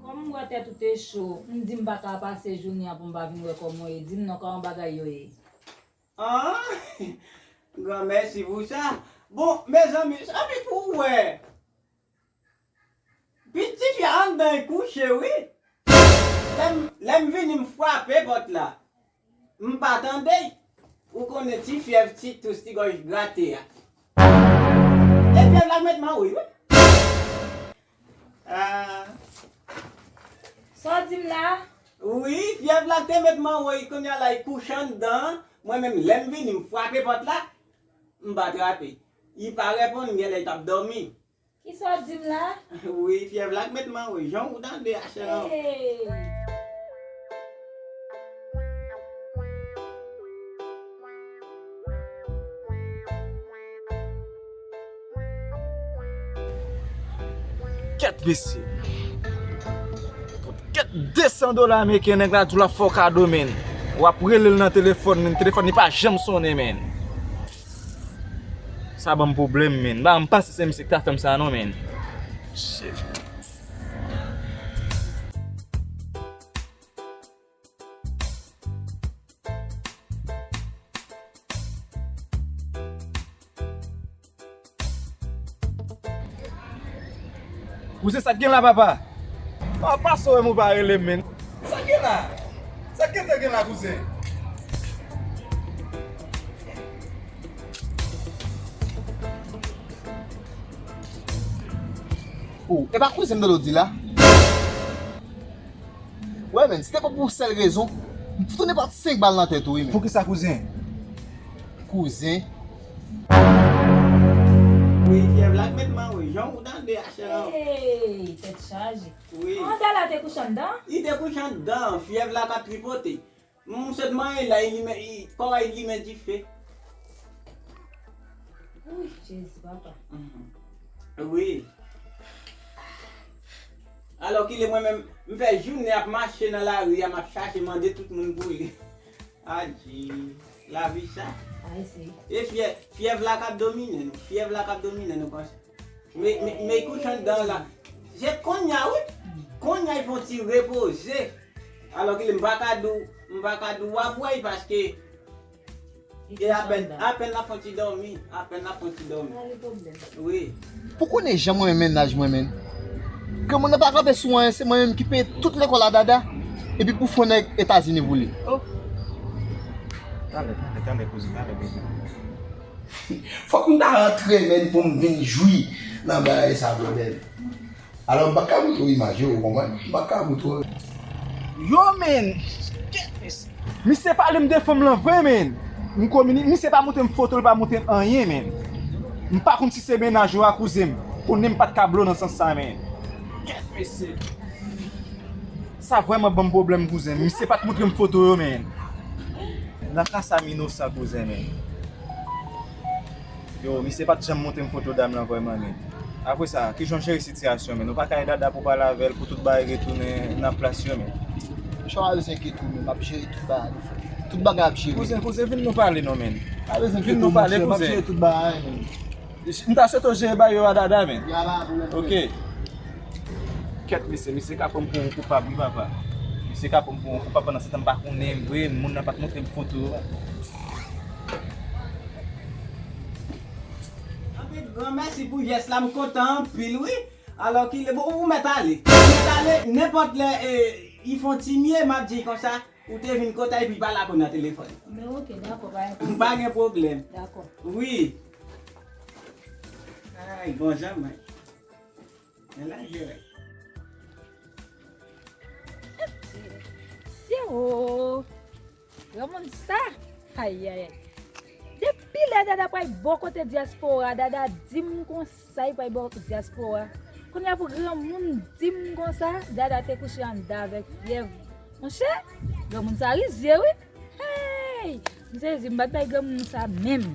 Kòm m wè tèt ou te cho, m di m pa ka pase jounen an pou m pa vin wè kòman w ye. Di m non, kòman bagay yo ye? An! Granmèsi pou sa! Bon, mezanmi, sa vle di pou ou wè Piti fi a anndan e kouche wi. Lèm vini m fwape pòt la. M pa tande. Ou konnen ti fyèv ti tous ti gòj grate a. E fyèv la met mawouy wi. Sa w di m la? Wi fyèv la te met mawouy kounya la li kouche anndan. Mwen menm lèm vini m fwape pòt la. M pa trape. Li pa reponn genlè li tap domi. Kisa wap dim la? Wi fyèv la k met man wi jan ou tande a chè lan. Kèt mesye. Kèt 200 dola ameriken nèg la diw lap fè w kado menn. Wap relel nan telefòn menn telefòn li pa janm sonnen menn. Sa banm pwoblèm menn. Ba m pase se misye ki ta fèm sa non menn. Shit. Ou se sak gen la papa. Papa pase wèm ou pa relem menn. Sak gen la? Sak gen te gen la kouzen? Ou e pa kouzenm dolo di la? Wè menn si te pa pou sèl rezon m t tounen bat 5 bal nan tèt ou wi menn. Poukisa kouzen? Kouzen? Wi fyèv la k met mwen wi jan ou tande a chè an. Eyy tèt chaje. Wi. An Dala te kouche anndan an? Li te kouche anndan an fyèv la k ap tripote. M sot manyen la kò a limen dife. Ooh Jezi papa. Wi. Alò kile mwen menm m fè jounen ap mache nan lari a m ap chache mande tout moun pou li. Adje. Lavi sa. E fyè, fyèv la kap domine nou. Fyèv la kap domine nou panse. Me, me, me kout anndan la. Se konnya wi. Konnya y fon ti repoze. Alò kilè m pa ka di w, m pa ka di w wap wè y paske. E apèn apèn lap fon ti dòmi apèn lap fon ti dòmi Sa gen pwoblèm wi. Pou konnen jan mwen renmen naj mwen menn ke mwen nan pa kanpe sou anyen se mwen menm ki peye tout lekòl a Dada epi pou fon nèg etazini voule oh. Tale tale tale kouzin tale kouzin. Fòk m ta antrene m pou m vin jwi nan bagay sa blondèn. Alò m pa ka montre w imaj yo, ou konprann? M pa ka montre w. Yo men! Kèt mesye! Misye pale m de fanm lan vre men! M kominik, misye pa montre m foto, li pa montre m anyen men! M pa konn si se mennaj ou a kouzen m, konnen m pa t ka blo nan sans sa men! Kèt mesye! Sa vrèman ban m pwoblèm kouzen, misye pa t montre m foto yo men! Nan ka sa m inosan kouzen men! Yo misye pat janm montrem foto dam lan vrèman ni Apre sa kijan w jere sitiyasyon men nou pa ka e dada pou w pale avèl pou tout bagay retounen nan plas yo men. Misye pa bezwen enkyete w menm map jere tout bagay li fè tout bagay ap jere. Kouzen kouzen vin nou pale non menn. Pa bezwen enkyete w monchè map jere tout bagay menn. M ta swete w jere bagay yo a dada menn. Ya pa pwoblèm frè. Ok. Kèt mesye misye ka pranm pou yon koupab wi papa misye ka pranm pou yon koupab pandan se tan m pa konnenl vre moun nan pat montrem foto. Anpil gran mèsi pou jès la m kontan anpil wi alò kilè bon ou mèt ale ou mèt ale nenpòt lè y fon ti mye map di konsa ou te vin kotay epi pa lakou nan telefòn men ok dakò pa gen pwoblèm pa gen pwoblèm dakò wi ay bon jan mwen. Men la yo. Yo. Yo moun sa. Ay ay ay. Depi la dada pray bon kote diaspora, dada dim konsa y pray bon kote diaspora. Kounya pou gran moun dim konsa, dada te kouche anda avek fyev. Mon chè, gran moun sa rizye wi. Hey! M sezi m pat bay gran moun sa menm.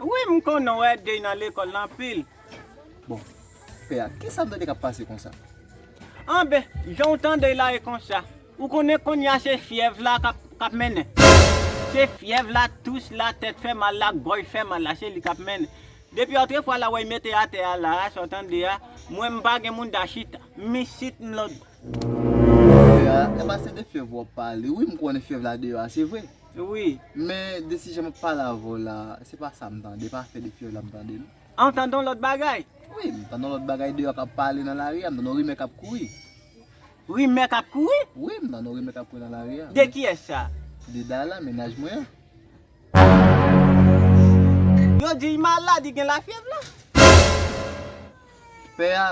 Wi m konn wè dey nan lekòl la anpil. Bon pè a kisa Dede kap pase konsa. Anben janw tandel la e konsa. Ou konnen konnya se fyèv la kap mennen. Se fyèv la, tous la, tèt fè mal la, gòj fè mal la se li kap mennen. Depi otrefwa la wey mete atè a la a sa w tande a, mwen m pa gen mouda chita. M isit m lòd. Pè a, enba se de fyèv wap pale wi m konnen fyèv la deyò a se vre. Wi. Men de si jan map pale avè w la se pa sa m tande, e pa afè de fyèv la m tande non. A w tande yon lòt bagay? Wi, m tande yon lòt bagay deyò kap pale nan lari a, m tande yon rimè kap kouri. Rimè kap kouri? Wi, m tande yon rimè kap kouri nan lari a. De kiyès sa? De Dayla, mennaj mwen an. Yo di l malad, li gen lafyèv la? Pè a,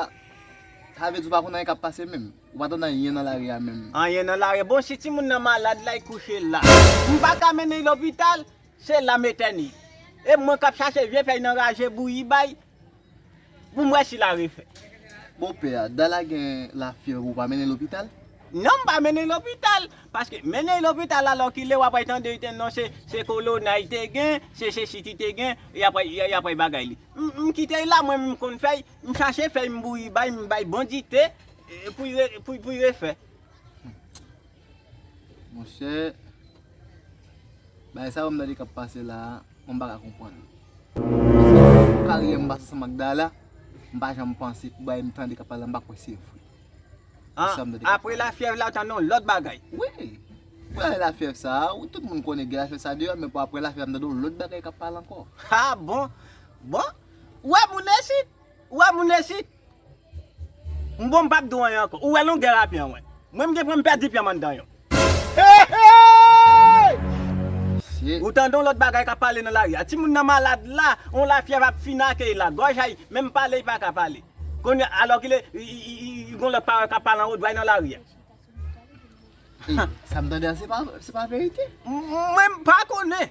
sa vle di w pa konn anyen kap pase menm? Ou pa tande anyen nan lari a menm. Anyen nan lari bon si timoun nan malad lay kouche la. M paka mennen y lopital se la m etène. E mwen kap chache vye fèy nan raje bouyi bay pou m wè si la refè. Bon pè a, da la gen la fyèv ou pa mennen lopital? Non m pa mennen lopital. Paske mennen y lopital alò kile wap ray tande y te non se kolona y te gen, se sesi ki te gen, yap ray bagay li. M kite y la mwen menm m konn fèy, m chache fèy m bouyi bay, m bay bon dite. Pou y refè. Monchè. Bagay sa yo m tande kap pase la a, mwen pa ka konprann l. Paske karyè m pase san Magdala, m pa janm panse pou bagay m tande kap pale la m pa kwè se vre. Apre lafyèv la ou tande yon lòt bagay. Wi. Pou lane lafyèv sa a, wi tout moun konnen gen lafyèv sa a deyò, men pou apre lafyèv la m tande yon lòt bagay kap pale ankò. Ha bon. Bon. Ou wè moun esit? Ou wè moun esit? M bon m pap do anyen ankò. Ou wè longè rape an wè. Mwen m gen pwen m pèdi pyem anndan yo. Mesye. Ou tande yon lòt bagay kap pale nan lari a. Timoun nan malad la, yon lafyèv ap fin ake l la. Gòj a, menm pale li pa ka pale. Kounye a alòkile yon lòt pawòl kap pale anwo dway nan lari a. Sa m tande a se pa verite? Mwen m pa konnen.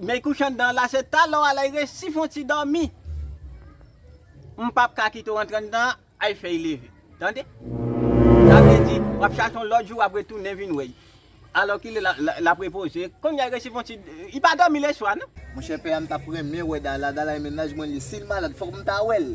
May kouchan dan la se talè w alay resi fon ti dòmi m pap ka kite w antre anndan an ay fèy leve tande sa vle di wap chache yon lòt jou wap retounen vin wè l alò kilè lap repoze kounya resi fon ti li pa dòmi leswa non. Monchè pè a m tap renmen wè Dala, Dala e mennaj mwen li, sil malad fòk m ta wèl.